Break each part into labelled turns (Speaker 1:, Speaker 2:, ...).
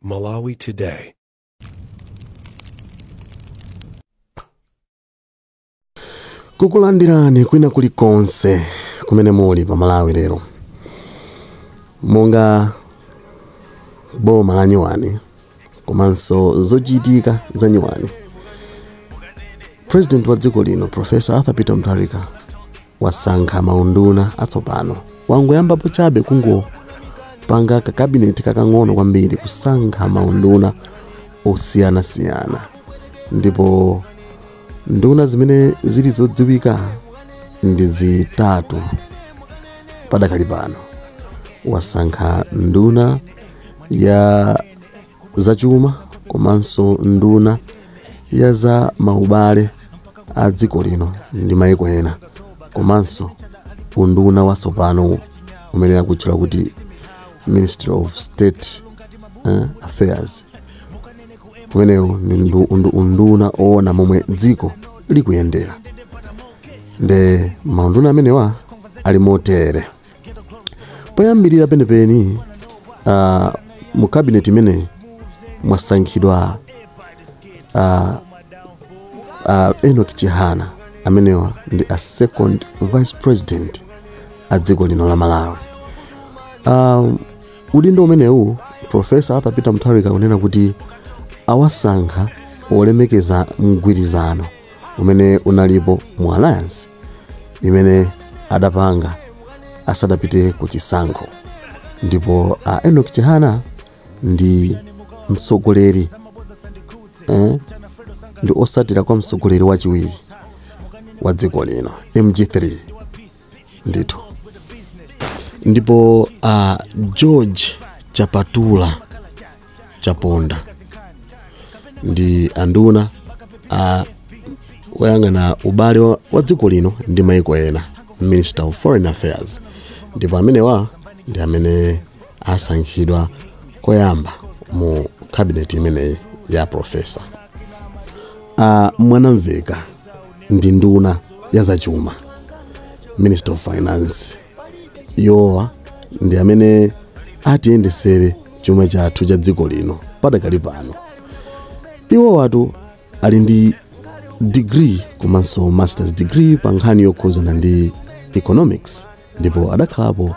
Speaker 1: Malawi Today.
Speaker 2: kukulandirani kwina kulikonse kumene muli pa malawi lero monga boma la nyuwani komanso zochitika zanyuwani president wa dziko lino profesa arthur peter mutharika wasankha maunduna atsopano wangoyambapo chabe kungopanga kakabineti kakang'ono kwambiri kusankha maunduna osiyanasiyana ndipo nduna zimene zili zodziwika ndi zitatu padakali pano wasankha nduna ya zachuma komanso nduna ya za maubale a dziko lino ndi maiko ena komanso unduna watsopano umene akutchula kuti ministry of state eh, affairs umenewu ni ndu- undu- unduna oona momwe dziko likuyendera nde maunduna amenewa ali motere poyambirira penipeni uh, mu cabinet imeneyi mwasankhidwa uh, uh, enok chihana amenewa ndi a second vice president a dziko lino la malawi um, udindo umenewu profesa arthur peter mutharika kunena kuti awasankha polemekeza mgwirizano umene unalipo mu alliance imene adapanga asadapite ku chisankho ndipo a enok chihana ndi mtsogoleri eh, ndi osatira kwa mtsogoleri wachiwiri wa dziko lino mg3 ndithu ndipo a george chapatula chaponda ndi anduna oyang'ana ubale wa, wa dziko lino ndi maiko ena minister of foreign affairs ndipo amenewa ndi amene asankhidwa koyamba mu cabinet imeneyi ya profesa a mwanamveka ndi nduna ya zachuma minister of finance iwowa ndi amene atiyendesere chuma chathu cha dziko lino padakali pano iwowatu ali ndi degree komanso masters degree pa nkhani yokhuzana ndi economics ndipo adakhalapo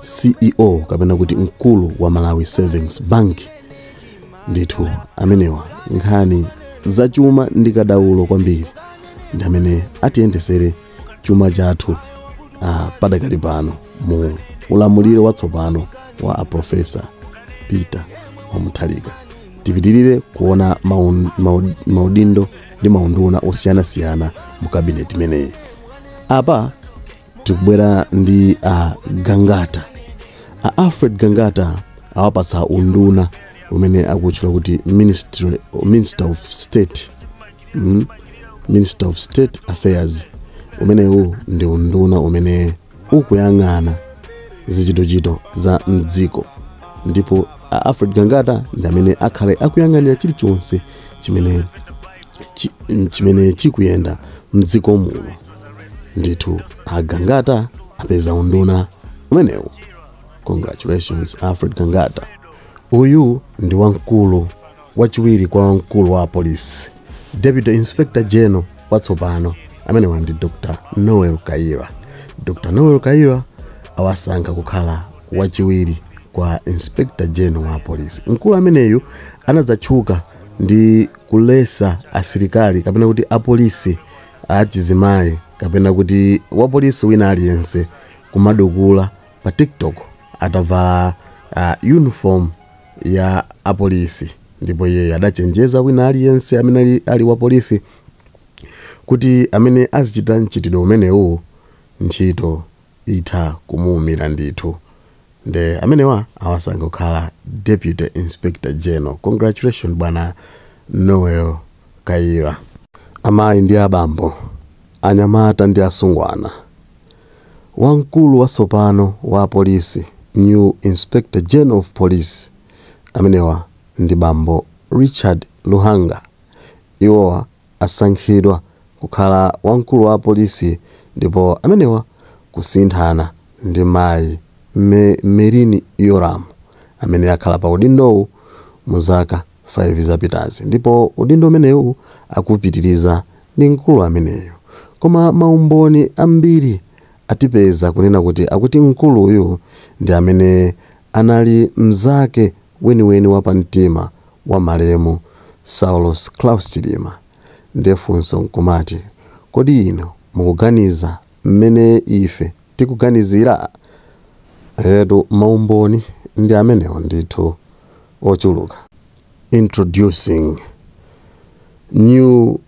Speaker 2: ceo kapena kuti mkulu wa malawi savings bank ndithu amenewa nkhani zachuma ndi kadaulo kwambiri ndi amene atiyendesere chuma chathu uh, padakali pano mu ulamuliro watsopano wa aprofesa peter wa mutharika tipitirire kuona maun- maud- maudindo ndi maunduna osiyanasiyana mu kabineti imeneyi apa tikubwera ndi a gangata a alfred gangata awapatsa unduna umene akutchula kuti ministry, minister of state mm, minister of state affairs umenewu ndi unduna umene ukuyang'ana zichitochito za mdziko ndipo a alfred gangata ndi amene akhale akuyang'anira chilichonse chimene chi- chimene chikuyenda mdziko muno ndithu a gangata apeza unduna umenewu congratulations alfred gangata uyu ndi wamkulu Wachiwiri kwa wamkulu wa apolisi, Deputy Inspector General watsopano amenewa ndi Dr. Noel Kayira. Dr. Noel Kayira awasankha kukhala wachiwiri kwa Inspector General wa apolisi. Mkulu ameneyu anadzatchuka ndi kuletsa asilikali kapena kuti apolisi achizimayi kapena kuti wapolisi wina aliyense kumadukula pa TikTok atavala uh, uniform ya apolisi ndipo iyeyo adachenjeza wina aliyense amene ali wapolisi kuti amene azichita mchitidwe umenewu ntchito itha kumuumira ndithu nde amenewa awasankha kukhala Deputy Inspector General. Congratulation bwana Noel Kayira. Amayi ndi abambo, anyamata ndi asungwana. Wamkulu watsopano wa apolisi, new Inspector General of Police, amenewa ndi bambo Richard Luhanga. Iwowa asankhidwa kukhala wamkulu wa apolisi ndipo amenewa akusinthana ndi mayi Merlyne Yolamu amene akhala pa udindowu mu zaka 5 zapitazi ndipo udindo umenewu akuupitiliza ndi mkulu ameneyu koma maumboni ambiri atipeza kunena kuti akuti mkuluyu ndi amene anali mzake weniweni wapamtima wa malemu Saulos Klaus Chilima nde funso nkumati kodi inu mukuganiza mmene ife tikuganizira? Eetu, maumboni ndi amenewo ndithu, ochuluka. Introducing New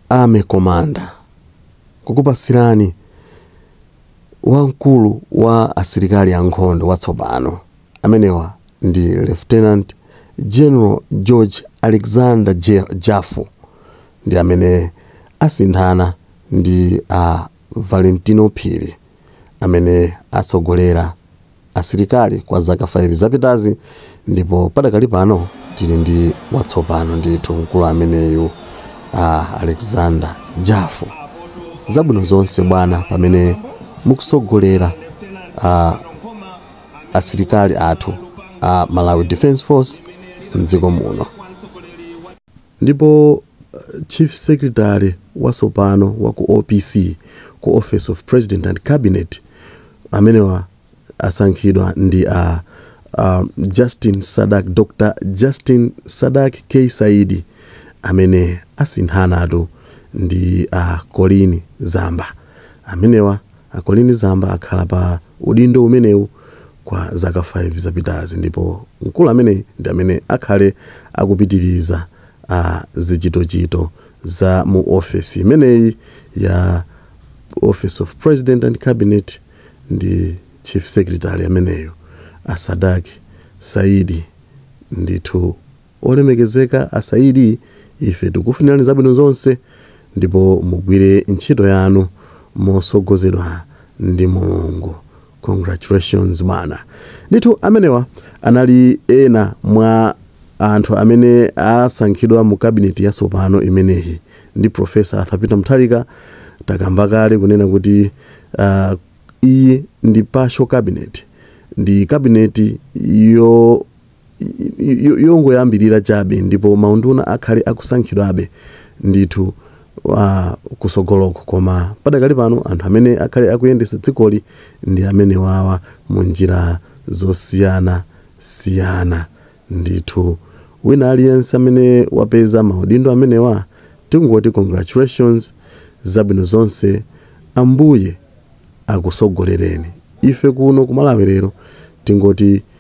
Speaker 2: Army Commander, Kukupatsirani wamkulu wa asilikali ankhondo watsopano amenewa. ndi Lieutenant General George Alexander Jafu ndi amene asinthana ndi a Valentino Phiri amene atsogolera asilikali kwa zaka 5 zapitazi ndipo padakali pano tili ndi watsopano ndithu mkulu ameneyu a Alexander Jafu zabwino zonse bwana pamene mukutsogolera a asilikali athu a Malawi Defence Force m'dziko muno. Ndipo Chief Secretary wasopano wa ku OPC, ku Office of President and Cabinet, amenewa asankhidwa ndi a uh, Justin Sadak, Dr. Justin Sadak K. Saidi amene asinthanatu ndi a uh, Colleen Zamba. amenewa a Colleen Zamba akhala pa udindo umenewu kwa zaka 5 zapitazi ndipo mkulu ameneyi ndi amene akhale akupitiliza zichitochito za mu ofesi imeneyi ya Office of President and Cabinet ndi Chief Secretary ameneyu a Sadak Saidi ndithu Olemekezeka a Saidi ife tikufunilani zabwino zonse ndipo mugwire ntchito yanu mosogozedwa ndi Mulungu congratulations bwana ndithu amenewa anali ena mwa Anthu amene asankhidwa mu cabinet yasopano imeneyi ndi Prof Arthur Peter Mutharika takamba kale kunena kuti iyi ndi partial cabinet ndi cabinet yo yongoyambirira chabe ndipo maunduna akhale akusankhidwabe ndithu kusogoloko koma padakali pano anthu amene akhale akuyendesa dzikoli ndi amenewawa munjira zosiyana siyana ndithu wina aliyense amene wapeza maudindo amenewa tikungoti congratulations zabwino zonse ambuye akusogolereni ife kuno ku Malawi Lero tingoti